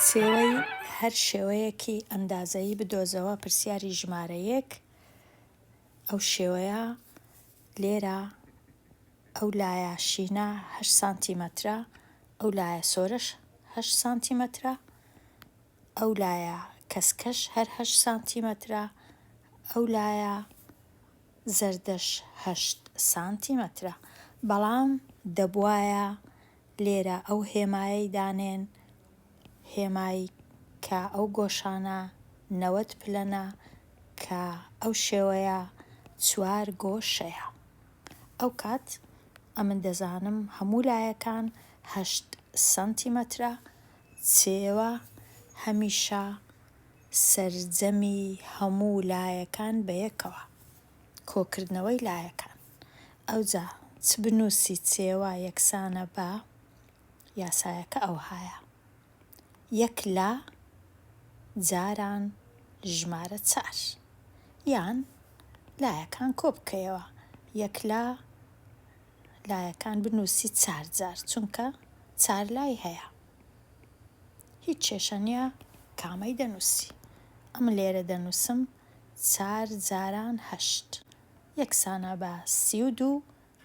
سێوەی هەر شێوەیەکی ئەندازەیی بدۆزەوە پرسیاری ژمارە یەک ئەو شێوەیە لێرە ئەو لایە شینە هەشت سانتیمەترە ئەو لایە سۆرەش هەشت سانتیمەترە ئەو لایە کەسکەش هەر هەشت سانتیمەترە ئەو لایە زەردەش هەشت سانتیمەترە بەڵام دەبوایە لێرە ئەو هێمایەی دانێن هێمای کە ئەو گۆشانە نەوەد پلەنە کە ئەو شێوەیە چوار گۆشەیە. ئەوکات ئەمن دەزانم هەموو لایەکان هەشت سەنتیمەترە چێوە هەمیشە سەرجەمی هەموو لایەکان بە یەکەوە کۆکردنەوەی لایەکان ئەوجا چ بنوسی چێوە یەکسانە بە یاسایەکە ئەوهایە، یەک لا جاران ژمارە چار، یان لایەکان کۆبکەیەوە، یەک لا لایەکان بنووسی چار جار، چونکە چار لای هەیە. هیچ کێشە نییە کامەی دەنووسی. ئەمن لێرە دەنووسم چار جاران هەشت، یەکسانە بە سی و دوو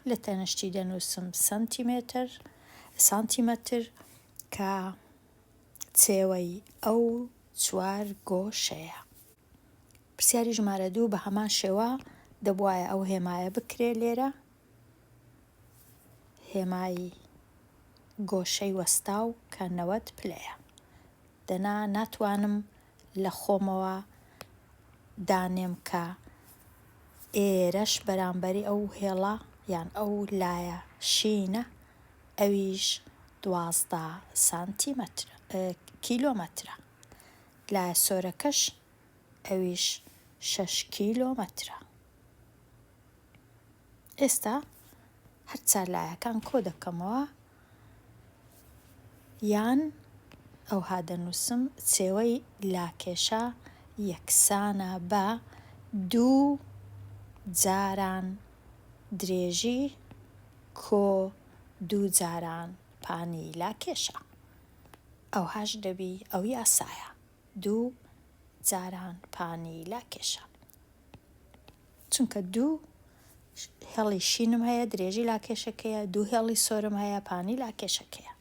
لە تەنشتی دەنووسم سەنتیمێتر، سانتیمەتر، کە چێوەی ئەو چوار گۆشەیە. پرسیاری ژمارە دوو بە هەمان شێوە دەبوایە ئەو هێمایە بکرێ لێرە، هێمای گۆشەی وەستاو کە نەوەد پلەیە. دەنا ناتوانم لە خۆمەوە دانێم کە ئێرەش بەرامبەری ئەو هێڵە یان ئەو لایە شینە ئەویش دوازدە سانتیمەتر کیلۆمەترە لایە سۆرەکەش ئەویش شەش کیلۆمەترە ئێستا هەرچار لایەکان کۆ دەکەمەوە یان ئەوها دەنووسم، چێوەی لاکێشە یەکسانە بە دوو جاران درێژی کۆ دوو جاران پانی لاکێشە. ئەوهاش دەبی ئەو یاسایە، دوو جاران پانی لاکێشە. چونکە دوو هێڵی شینم هەیە درێژی لاکێشەکەیە دوو هێڵی سۆرم هەیە پانی لاکێشەکەیە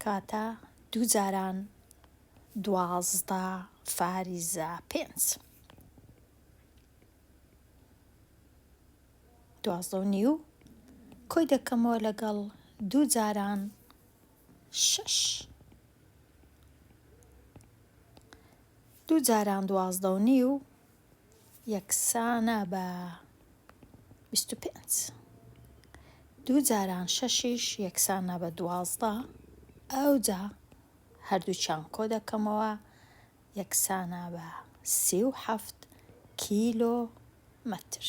کاتە دوو جاران دوازدە فاریزە پێنج دوازدە و نیو کۆی دەکەمەوە لەگەڵ دوو جاران شش دوو جاران دوازدە و نیو یەکسانە بە بیست و پێنج. دوو جاران شەشیش یەکسانە بە دوازدە. ئەوجا هەردووکیان کۆ دەکەمەوە یەکسانە بە سی و حەفت کیلۆمەتر.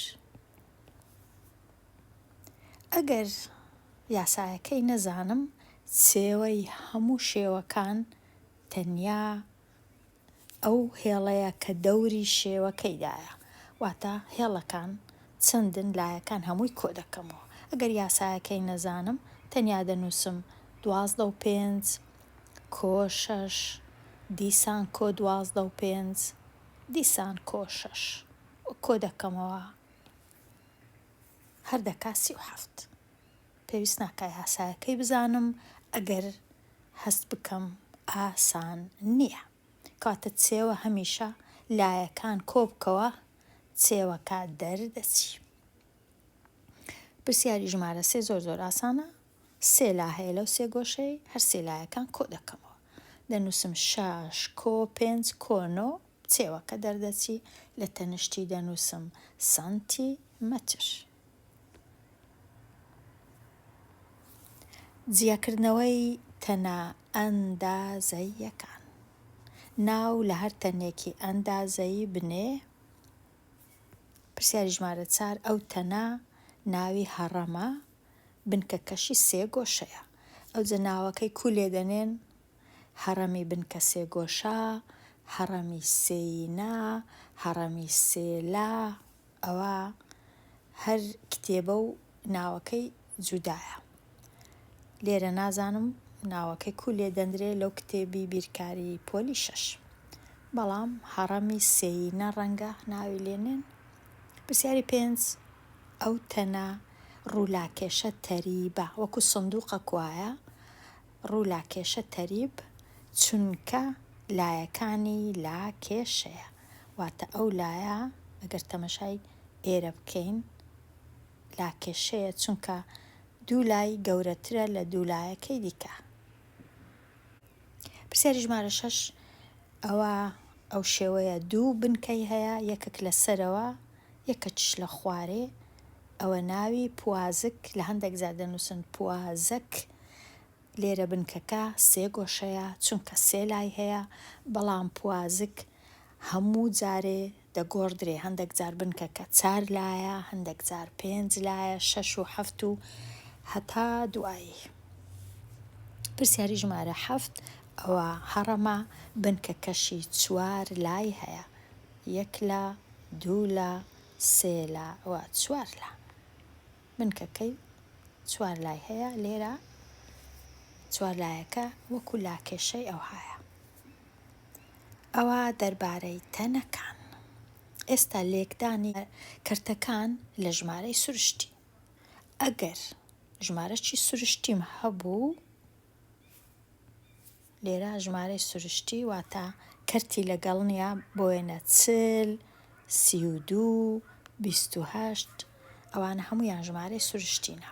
ئەگەر یاسایەکەی نەزانم، سێوەی هەموو شێوەکان تەنیا ئەو هێڵەیە کە دەوری شێوەکەیدایە، واتە هێڵەکان چەندن لایەکان هەمووی کۆدەکەمەوە، ئەگەر یاسایەکەی نەزانم تەنیا دەنووسم دوازدە و پێنج کۆ شەش دیسان کۆ دوازدە و پێنج دیسان کۆ شەش و کۆدەکەمەوە هەر دەکات سی و حەفت. پێویست ناکا یاسایەکەی بزانم ئەگەر هەست بکەم ئاسان نیە کەواتە چێوە هەمیشە لایەکان کۆبکەوە چێوەکە دەردەچی پرسیاری ژمارە سێ زۆر زۆر ئاسانە سێ لا هەیە لەو سێ گۆشەی هەر سێ لایەکان کۆ دەکەمەوە دەنووسم شاش کۆ پێنج کۆنۆ چێوەکە دەردەچی لە تەنشتی دەنووسم سانتی مەتر جیاکردنەوەی تەنە ئەندازەییەکان، ناو لە هەر تەنێکی ئەندازەیی بنێ، پرسیاری ژمارە چار ئەو تەنە ناوی هەڕەمە، بنکەکەشی سێگۆشەیە، ئەوجە ناوەکەی کوو لێ دەنێن؟ هەڕەمی بنکە سێگۆشە، هەڕەمی سێیینە، هەڕەمی سێلا. ئەوە هەر کتێبە و ناوەکەی جودایە لێرە نازانم ناوەکەی کو لێ دەندرێ لەو کتێبی بیرکاری پۆلی شەش بەڵام هەڕەمی سێی نە ڕەنگە ناوی لێنێن پرسیاری پێنج ئەو تەنە ڕوولاکێشە تەریبە وەکو سندوقە کوایە ڕوو لا کێشە تەریب چونکە لایەکانی لا کێشەیە واتە ئەو لایە ئەگەر تەمەشای ئێرە بکەین لا کێشەیە چونکە دوو لای گەورەترە لە دوو لایەکەی دیکە پرسیاری ژمارە شەش ئەوە ئەو شێوەیە دوو بنکەی هەیە یەکەک لە سەرەوە یەکەچش لە خوارێ ئەوە ناوی پوازک لە هەندێک زار دەنووسن پوازک لێرە بنکەکە سێ گۆشەیە چونکە سێ لای هەیە بەڵام پوازک هەموو جارێ دەگۆڕدرێ هەندەک جار بنکەکە چار لایە هەندەک جار پێنج لایە شەش و حەفت و هەتا دوایی پرسیاری ژمارە حەفت ئەوە هەڕەمە بنکەکەشی چوار لای هەیە یەک لە دوو لە سێ لە و چوار لە بنکەکەی چوار لای هەیە، لێرە چوار لایەکە وەکو لاکێشەی ئەوهایە. ئەوە دەربارەی تەنەکان. ئێستا لێکدانی کەرتەکان لە ژمارەی سروشتی. ئەگەر ژمارەی سروشتیم هەبوو، لێرە ژمارەی سروشتی واتە کەرتی لەگەڵ نیە بۆ وێنە چل، سی و دوو، بیست و هەشت ئەوانە هەموویان ژمارەی سروشتینە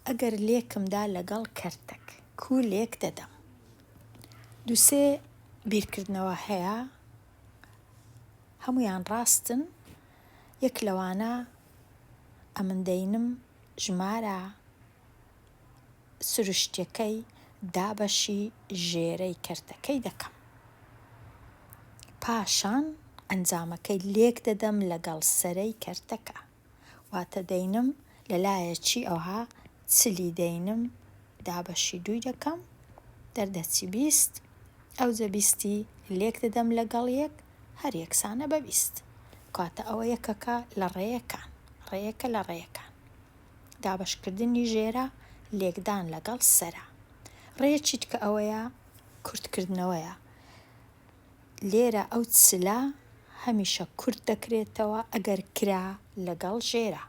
ئەگەر لێکم دا لەگەڵ کەرتەک کو لێک دەدەم دوو سێ بیرکردنەوە هەیە هەموویان ڕاستن یەک لەوانە ئەمن دەینم ژمارە سروشتیەکەی دابەشی ژێرەی کەرتەکەی دەکەم پاشان ئەنجامەکەی لێک دەدەم لەگەڵ سەرەی کەرتەکە واتە دەینم لەلایەکی ئەوها چلی دەینم دابەشی دووی دەکەم دەردەچی بیست ئەوجە بیستی لێک دەدەم لەگەڵ یەک هەر یەکسانە بە بیست کاتە ئەوە یەکەکە لە ڕێیەکان ڕێیەکە لە ڕێیەکان دابەشکردنی ژێرە لێکدان لەگەڵ سەرە. ڕێیەکی تکە ئەوەیە کورتکردنەوەیە. لێرە ئەو چلە هەمیشە کورت دەکرێتەوە ئەگەر کرا لەگەڵ ژێرە.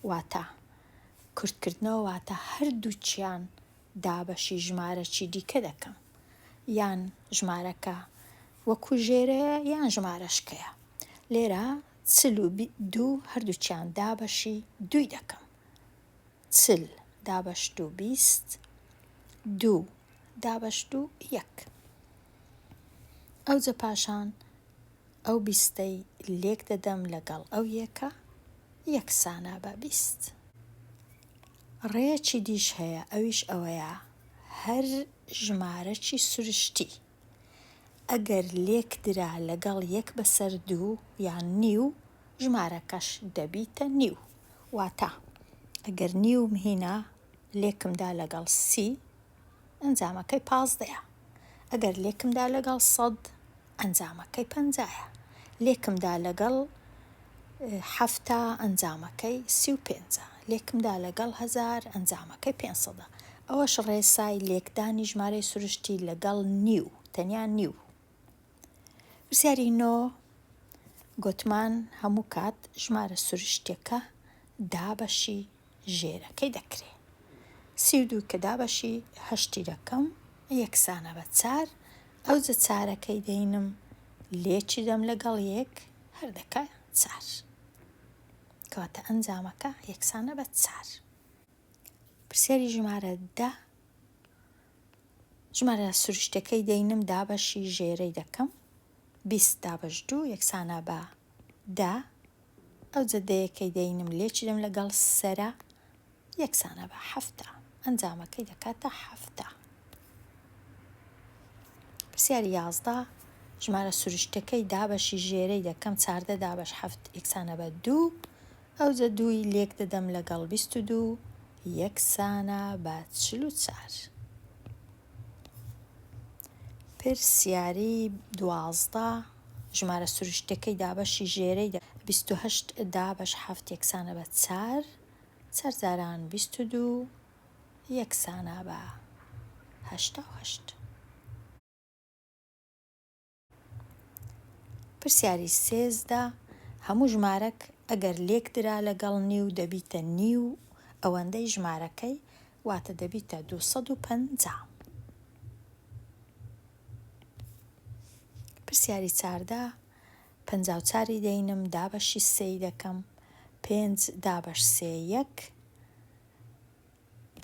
واتە کورتکردنەوە واتە هەردووچیان دابەشی ژمارەکی دیکە دەکەم. یان ژمارەکە وەکو ژێرەیە یان ژمارەشکەیە. لێرە چل و دوو هەردووکیان دابەشی دووی دەکەم. چل دابەش دوو بیست. دوو دابەش دوو یەک. ئەوجە پاشان ئەو بیستەی لێک دەدەم لەگەڵ ئەو یەکە یەکسانە بە بیست. ڕێیەکی دیش هەیە ئەویش ئەوەیە هەر ژمارەکی سروشتی ئەگەر لێکدرا لەگەڵ یەک بەسەر دوو یان نیو ژمارەکەش دەبیتە نیو واتا ئەگەر نیوم هینا لێکمدا لەگەڵ سی ئەنجامەکەی پازدەیە ئەگەر لێکمدا لەگەڵ سەد ئەنجامەکەی پەنجایە لێکمدا لەگەڵ حەفتا ئەنجامەکەی سی و پێنجە، لێکمدا لەگەڵ هەزار ئەنجامەکەی پێنج سەدە، ئەوەش ڕێسای لێکدانی ژمارەی سروشتی لەگەڵ نیو، تەنیا نیو. پرسیاری نۆ، گۆتمان هەموو کات ژمارە سروشتیەکە دابەشی. ژێرەکەی دەکرێ. سی و دوو کە دابەشی هەشتی دەکەم یەکسانە بە چار، ئەوجە چارەکەی دەینم لێ چیدەم لەگەڵ یەک هەر دەکا چار. کەواتە ئەنجامەکە یەکسانە بە چار. پرسیاری ژمارە دە، ژمارە سروشتەکەی دەینم دابەشی ژێرەی دەکەم، بیست دابەش دوو یەکسانە بە دە، ئەو جەدەیە کەی دەینم لێچیدم لەگەڵ سەرە یەکسانە بە حەفتا ئەنجامەکەی دەکاتە حەفتا پرسیاری یازدە ژمارە سروشتەکەی دابەشی ژێرەی دەکەم چاردە دابەش حەفت یەکسانە بە دوو ئەو جە دووی لێک دەدەم لەگەڵ بیست و دوو یەکسانە بە چل و چار. پرسیاری دوازدە، ژمارە سروشتیەکەی دابەشی ژێرەی دە. بیست و هەشت دابەش حەفت یەکسانە بە چار چار جاران بیست و دوو یەکسانە بە هەشتا و هەشت. پرسیاری سێزدە، هەموو ژمارەک ئەگەر لێکدرا لەگەڵ نیو دەبیتە نیو ئەوەندەی ژمارەکەی واتە دەبیتە دوو سەد و پەنجا. پرسیاری چاردە، پەنجا و چاری دەینم دابەشی سێی دەکەم پێنج دابەش سێ یەک،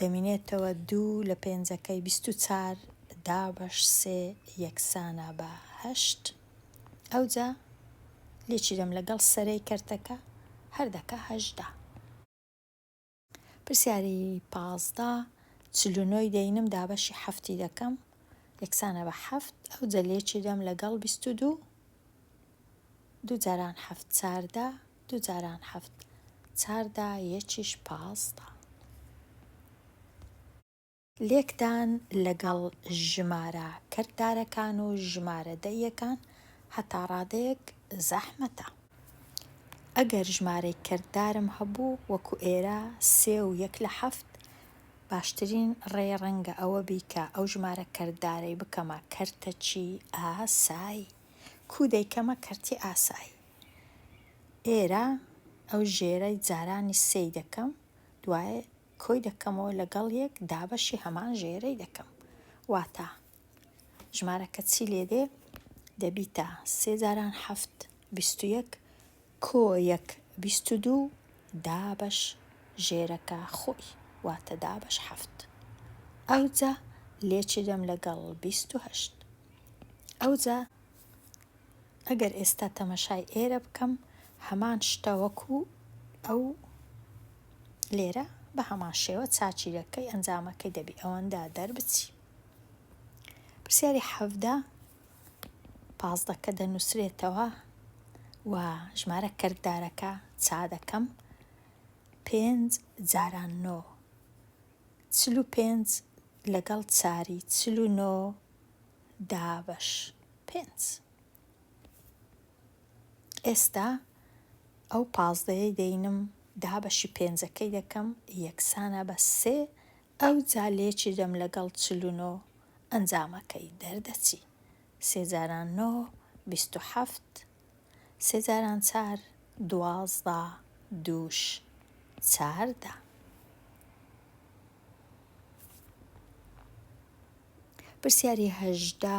دەمینێتەوە دوو لە پێنجەکەی بیست و چار دابەش سێ یەکسانە بە هەشت ئەوجا لێکی دەم لەگەڵ سەرەی کەرتەکە هەر دەکا هەژدە. پرسیاری پازدە چل و نۆی دەینم دابەشی حەفتی دەکەم یەکسانە بە حەفت ئەوجە لێکی دەم لەگەڵ بیست و دوو دوو جاران حەفت چاردە دوو جاران حەفت چاردە یەکیش پازدە. لێکدان لەگەڵ ژمارە کەردارەکان و ژمارە دەییەکان هەتا ڕادەیەک زەحمەتە. ئەگەر ژمارەی کەردارم هەبوو وەکو ئێرە سێ و یەک لە حەفت، باشترین ڕێ ڕەنگە ئەوە بی کە ئەو ژمارە کەردارەی بکەمە کەرتەکی ئاسایی. کو دەیکەمە کەرتی ئاسایی ئێرە ئەو ژێرەی جارانی سێی دەکەم دوای کۆی دەکەمەوە لەگەڵ یەک دابەشی هەمان ژێرەی دەکەم واتا ژمارەکە چی لێدێ دەبیتە سێ جاران حەفت بیست و یەک کۆ یەک بیست و دوو دابەش ژێرەکە خۆی واتە دابەش حەفت ئەوجا لێچیدەم لەگەڵ بیست و هەشت ئەوجا ئەگەر ئێستا تەمەشای ئێرە بکەم هەمان شتە وەکو ئەو لێرە بە هەمان شێوە چاچیرەکەی ئەنجامەکەی دەبی ئەوەندە دەربچی پرسیاری حەڤدە پازدە کە دەنووسرێتەوە و ژمارە کەرکدارەکە چا دەکەم پێنج جاران نۆ چل و پێنج لەگەڵ چاری چل و نۆ دابەش پێنج ئێستا ئەو پازدەیەی دەینم دابەشی پێنجەکەی دەکەم یەکسانە بە سێ ئەوجا لێکی دەم لەگەڵ چل و نۆ ئەنجامەکەی دەردەچی سێ جاران نۆ بیست و حەفت سێ جاران چار دوازدە دووش چاردە پرسیاری هەژدە.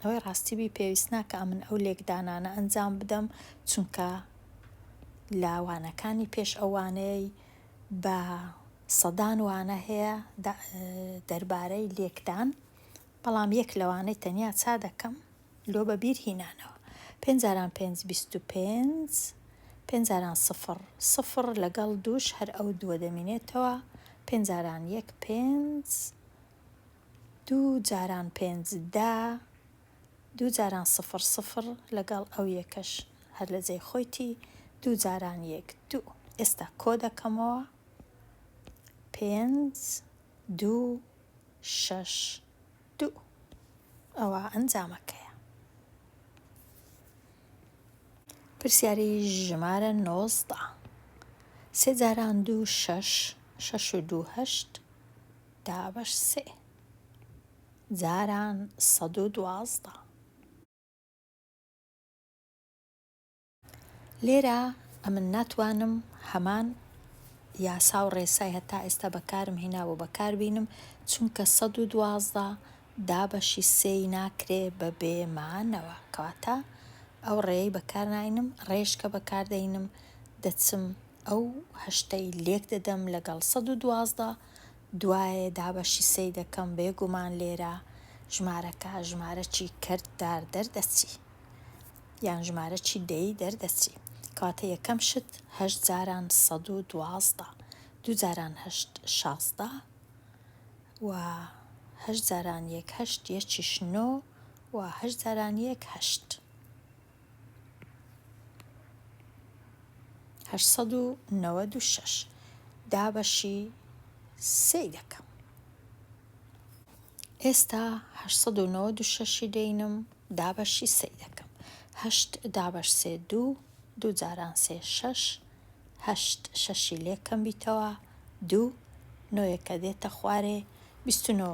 ئەوەی ڕاستی بی پێویست ناکا ئەمن ئەو لێکدانانە ئەنجام بدەم چونکە لە وانەکانی پێش ئەو وانەیەی بە سەدان وانە هەیە دەربارەی لێکدان بەڵام یەک لەوانەی تەنیا چا دەکەم لۆ بە بیر هینانەوە پێنجاران پێنج بیست و پێنج پێنجاران سفر سفر لەگەڵ دووش هەر ئەو دووە دەمینێتەوە پێنجاران یەک پێنج دوو جاران پێنج دە. دوو جاران سفر سفر لەگەڵ ئەو یەکەش هەر لە جێی خۆیتی دوو جاران یەک دوو ئێستا کۆ دەکەمەوە پێنج دوو شەش دوو ئەوە ئەنجامەکەیە پرسیاری ژمارە نۆزدە سێ جاران دوو شەش شەش و دوو هەشت دابەش سێ جاران سەد و دوازدە. لێرە ئەمن ناتوانم هەمان یاسا و ڕێسای هەتا ئێستا بەکارم هینابوو بەکار بینم چونکە سەد و دوازدە دابەشی سێی ناکرێ بە بێمانەوە کەواتە ئەو ڕێی بەکار ناینم ڕێشکە بەکاردەینم دەچم ئەو هەشتەی لێک دەدەم لەگەڵ سەد و دوازدە دوایێ دابەشی سەی دەکەم بێ گومان لێرە ژمارەکە ژمارە چی کەرت دار دەردەچی یان ژمارە چی دەی دەردەچی کەواتە یەکەم شت هەشت جاران سەد و دوازدە دوو جاران هەشت شازدە و هەشت جاران یەک هەشت یەکیش نۆ و هەشت جاران یەک هەشت هەشت سەد و نەوەد و شەش دابەشی سێی دەکەم ئێستا هەشت سەد و نەوەد و شەشی دەینم دابەشی سێی دەکەم هەشت دابەش سێ دوو دوو جاران سێ شەش هەشت شەشی لێکەم بیتەوە دوو نۆیەکە دێتە خوارێ بیست و نۆ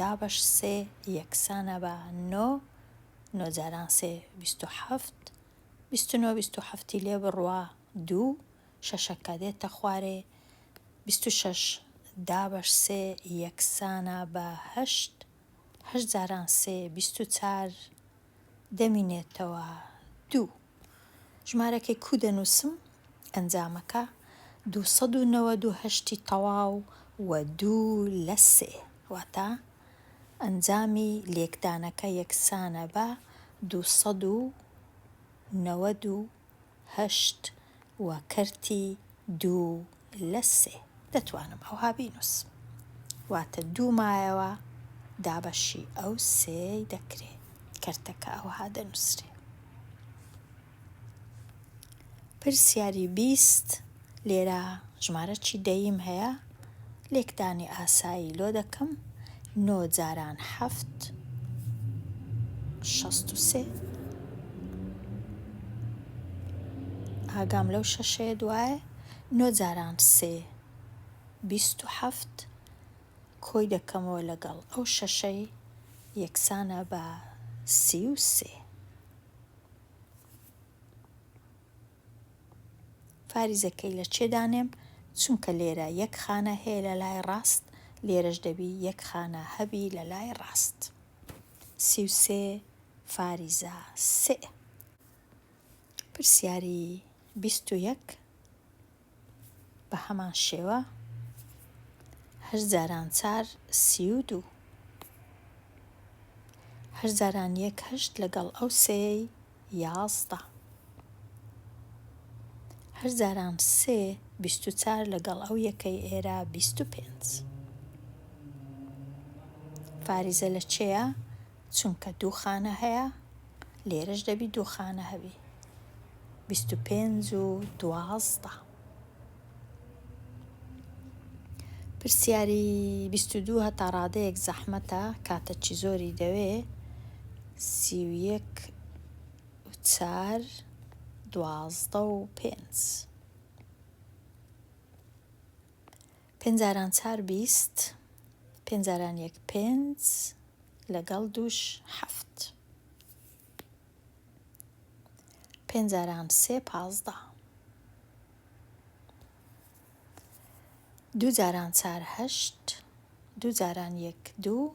دابەش سێ یەکسانە بە نۆ نۆ جاران سێ بیست و حەفت بیست و نۆ بیست و حەفتی لێ بڕە دوو شەشەکە دێتە خوارێ بیست و شەش دابەش سێ یەکسانە بە هەشت هەشت جاران سێ بیست و چار دەمینێتەوە دوو. ژمارەکەی کوو دەنووسم ئەنجامەکە دوو سەد و نەوەد و هەشت ی تەواو و دوو لە سێ واتە ئەنجامی لێکدانەکە یەکسانە بە دوو سەد و نەوەد و هەشت و کەرتی دوو لە سێ. دەتوانم ئەوها بینوس. واتە دوو مایەوە دابەشی ئەو سێەی دەکرێ. کەرتەکە ئەوها دەنوسرێ. پرسیاری بیست، لێرە ژمارە چی دەییم هەیە، لێکدانی ئاسایی لۆ دەکەم، نۆ جاران حەفت شەست و سێ. ئاگام لەو شەشەیە دوایە. نۆ جاران سێ بیست و حەفت کۆی دەکەمەوە لەگەڵ ئەو شەشەی یەکسانە بە سی و سێ. فاریزەکەی لە چێ دانێم چونکە لێرە یەک خانە هەیە لە لای ڕاست لێرەش دەبی یەک خانە هەبی لە لای ڕاست سی و سێ فاریزە سێ پرسیاری بیست و یەک بە هەمان شێوە هەشت جاران چار سی و دوو هەشت جاران یەک هەشت لەگەڵ ئەو سێی یازدە هەشت جاران سێ بیست و چار لەگەڵ ئەو یەکەی ئێرە بیست و پێنج فاریزە لە چێە چونکە دوو خانە هەیە لێرەش دەبی دوو خانە هەبی بیست و پێنج و دوازدە پرسیاری بیست و دوو هەتا ڕادەیەک زەحمەتە کاتە چی زۆری دەوێ سی و یەک و چار دوازدە و پێنج پێنج جاران چار بیست. پێنج جاران یەک پێنج. لەگەڵ دووش حەفت. پێنج جاران سێ پازدە. دوو جاران چار هەشت. دوو جاران یەک دوو.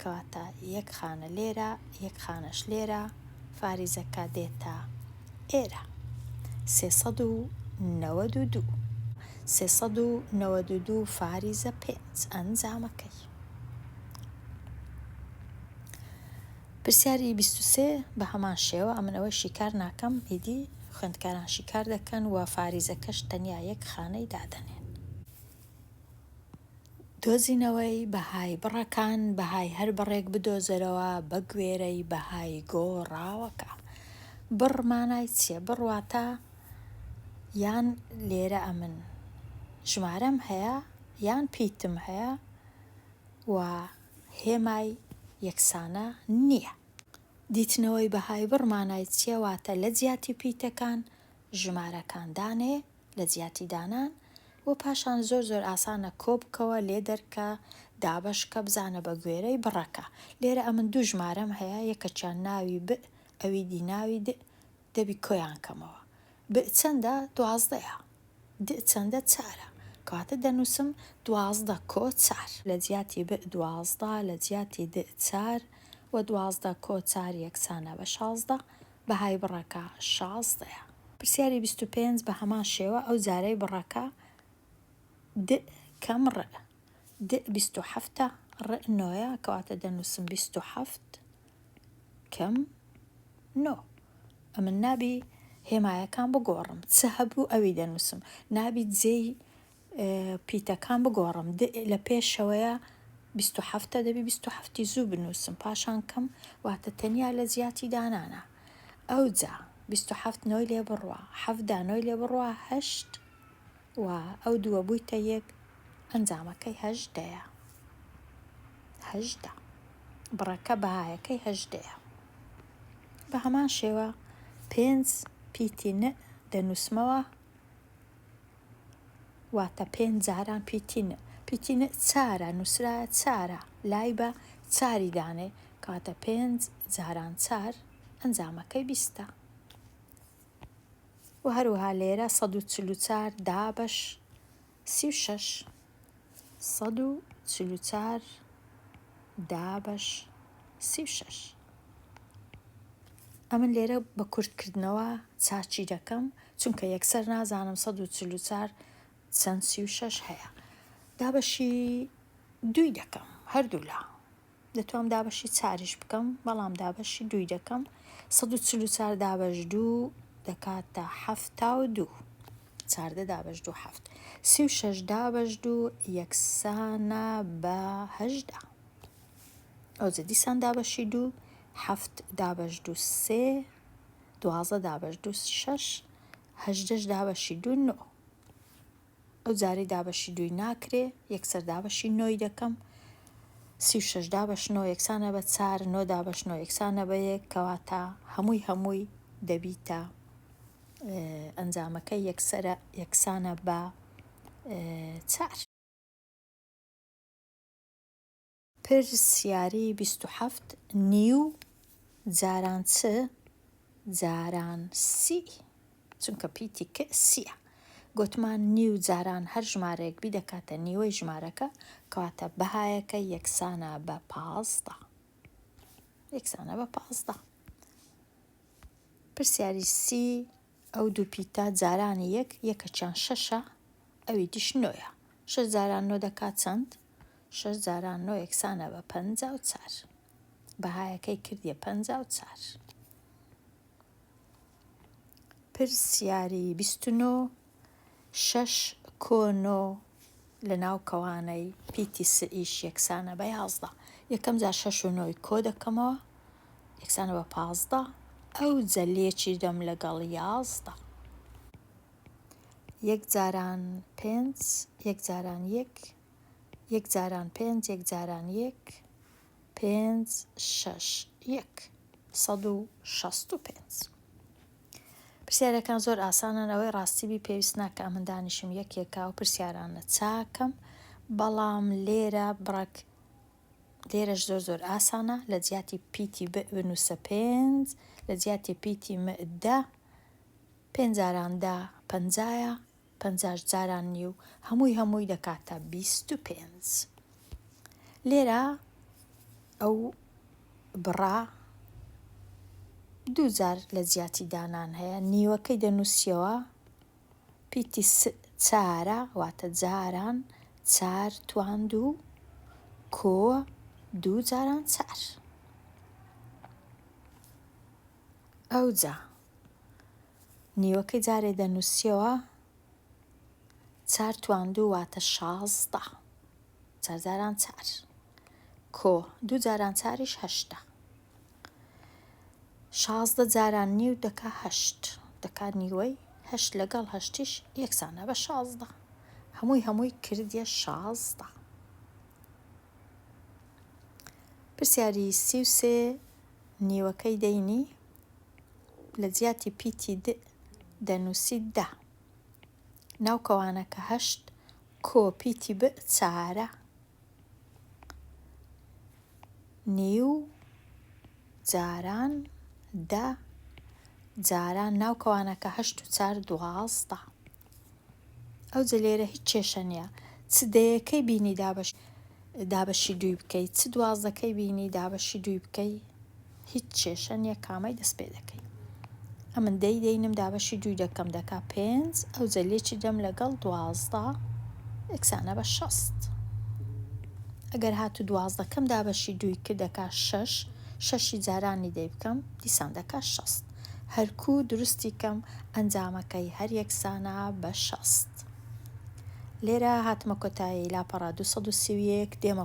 کەواتە یەک خانە لێرە یەک خانەش لێرە فاریزەکە دێتە ئێرە سێ سەد و نەوەد و دوو سێ سەد و نەوەد و دوو فاریزە پێنج ئەنجامەکەی پرسیاری بیست و سێ بە هەمان شێوە ئەمن ئەوەی شیکار ناکەم ئیدی خوێندکاران شیکار دەکەن و فاریزەکەش تەنیا یەک خانەی دادەنێن دۆزینەوەی بەهای بڕەکان، بەهای هەر بڕێک بدۆزەرەوە بەگوێرەی بەهای گۆڕاوەکە. بڕ مانای چیە؟ بڕ واتە یان لێرە ئەمن ژمارەم هەیە یان پیتم هەیە و هێمای یەکسانە نییە. دیتنەوەی بەهای بڕ مانای چیە؟ واتە لە جیاتی پیتەکان ژمارەکان دانێ. لە جیاتی دانان و پاشان زۆر زۆر ئاسانە کۆبکەوە لێدەرکە دابەشکە بزانە بە گوێرەی بڕەکە لێرە ئەمن دوو ژمارەم هەیە یەکەکیان ناوی ب ئەوی دی ناوی د دەبی کۆیان کەمەوە ب چەندە دوازدەیە د چەندە چارە کەواتە دەنووسم دوازدە کۆ چار. لە جیاتی ب دوازدە لە جیاتی د چار وە دوازدە کۆ چار یەکسانە بە شازدە بەهای بڕەکە شازدەیە. پرسیاری بیست و پێنج بە هەمان شێوە ئەو جارەی بڕەکە د کەم ڕئ د بیست و حەفتە ڕئ نۆیە کەواتە دەنووسم بیست و حەفت کەم نۆ ئەمن نابی هێمایەکان بگۆڕم چ هەبوو ئەوی دەنووسم نابی جێی پیتەکان بگۆڕم د لە پێشەوەیە بیست و حەفتە دەبی بیست و حەفتی زوو بنووسم پاشان کەم واتە تەنیا لە زیاتی دانانە ئەوجا بیست و حەفت نۆی لێ بڕوا حەفدا نۆی لێ بڕوا هەشت و ئەو دووە بوویتە یەک ئەنجامەکەی هەژدەیە هەژدە بڕەکە بەهایەکەی هەژدەیە بە هەمان شێوە پێنج پیتی نە دەنووسمەوە واتە پێنج جاران پیتین، پیتین چارە، نووسرایە چارە، لای بە چاری دانێ، کەواتە پێنج جاران چار ئەنجامەکەی بیستە. و هەروەها لێرە سەد و چل و چار دابەش سی و شەش. سەد و چل و چار دابەش سی و شەش ئەمن لێرە بە کورتکردنەوە چاچی دەکەم چونکە یەکسەر نازانم سەد و چل و چار چەند سی و شەش هەیە دابەشی دوی دەکەم هەردوولا دەتوام دابەشی چاریش بکەم بەڵام دابەشی دووی دەکەم سەد و چل و چار دابەش دوو دەکاتە حەفتا و دوو چاردە دابەش دوو حەفت سی و شەش دابەش دوو یەکسانە بە هەژدا ئەوجە دیسان دابەشی دوو حەفت دابەش دو سێ دوازە دابەش دو شەش هەژدەش دابەشی دو نۆ ئەو جارەی دابەشی دووی ناکرێ یەکسەر دابەشی نۆی دەکەم سی و شەش دابەش نۆ یەکسانە بە چار نۆ دابەش نۆ یەکسانە بە یەک کەواتە هەمووی هەمووی دەبیتە ئەنجامەکە یەکسرە یەکسانە بە چار پرسیاری بیست و حەفت، نیو جاران چ جاران سی چونکە پیتی ک سیە. گۆتمان نیو جاران هەر ژمارەیەک بیدەکاتە نیوەی ژمارەکە کەواتە بەهایەکە یەکسانە بە پازدە یەکسانە بە پازدە. پرسیاری سی ئەو دوو پیتە جارانی یەک یەکەکیان شەشە ئەوی دیش نۆیە. شەش جاران نۆ دەکات چەند؟ شەش جاران نۆ یەکسانە بە پەنجا و چار. بەهایەکەی کردیە پەنجا و چار. پرسیاری بیست و نۆ شەش کۆ نۆ لە ناو کەوانەی پیتی سئ یش یەکسانە بە یازدە. یەکەم جار شەش و نۆی کۆ دەکەمەوە یەکسانە بە پازدە. ئەوجە لێکی دەم لەگەڵ یازدە. یەک جاران پێنج یەک جاران یەک یەک جاران پێنج یەک جاران یەک پێنج شەش یەک سەد و شەست و پێنج. پرسیارەکان زۆر ئاسانن ئەوەی ڕاستی بی پێویست ناکە ئەمن دانیشم یەک یەکە ئەو پرسیارانە چاکەم بەڵام لێرە بڕەک لێرەش زۆر زۆر ئاسانە لە جیاتی پیتی بنووسە پێنج لە جیاتی پیتی مەدا پێنجاراندا پەنجایە پەنجاش جاران نیو هەمووی هەمووی دەکاتە بیست و پێنج لێرە ئەو بڕا دوو جار لە جیاتی دانان هەیە نیوەکەی دەنووسیەوە پیتی چارە واتە جاران چار تواند و کۆ دوو جاران چار. ئەوجا نیوەکەی جارێ دەنووسیەوە چار توان دوو واتە شازدە چارجاران چار کۆ دوو جاران چاریش هەشتە شازدە جاران نیو دەکا هەشت دەکا نیوەی هەشت لەگەڵ هەشتیش یەکسانە بە شازدە هەمووی هەمووی کردە شازدە پرسیاری سی و سێ نیوەکەی دەینی لە جیاتی پیتی د دەنووسی دە. ناو کەوانەکە هەشت کۆ پیتی ب چارە. نیو جاران دە جاران ناو کەوانەکە هەشت و چار دوازدە. ئەوجە لێرە هیچ کێشە نیە چ دەیەکەی بینی دابەشی دابەشی دووی بکەی چ دوازدەکەی بینی دابەشی دووی بکەی هیچ کێشە نیە کامەی دەست پێ دەکەی ئەمن دەی دەینم دابەشی دووی دەکەم دەکا پێنج ئەو جەلێکی دەم لەگەڵ دوازدە ئەکسانە بە شەست ئەگەر هات و دوازدەکەم دابەشی دووی کردەکە شەش شەشی جارانی دەی بکەم دیسان دەکە شەست هەر کوو دروستی کەم ئەنجامەکەی هەر یەکسانە بە شەست. لێرە هاتمە کۆتایی لاپەڕە دوو سەد و سی و یەک دێمە.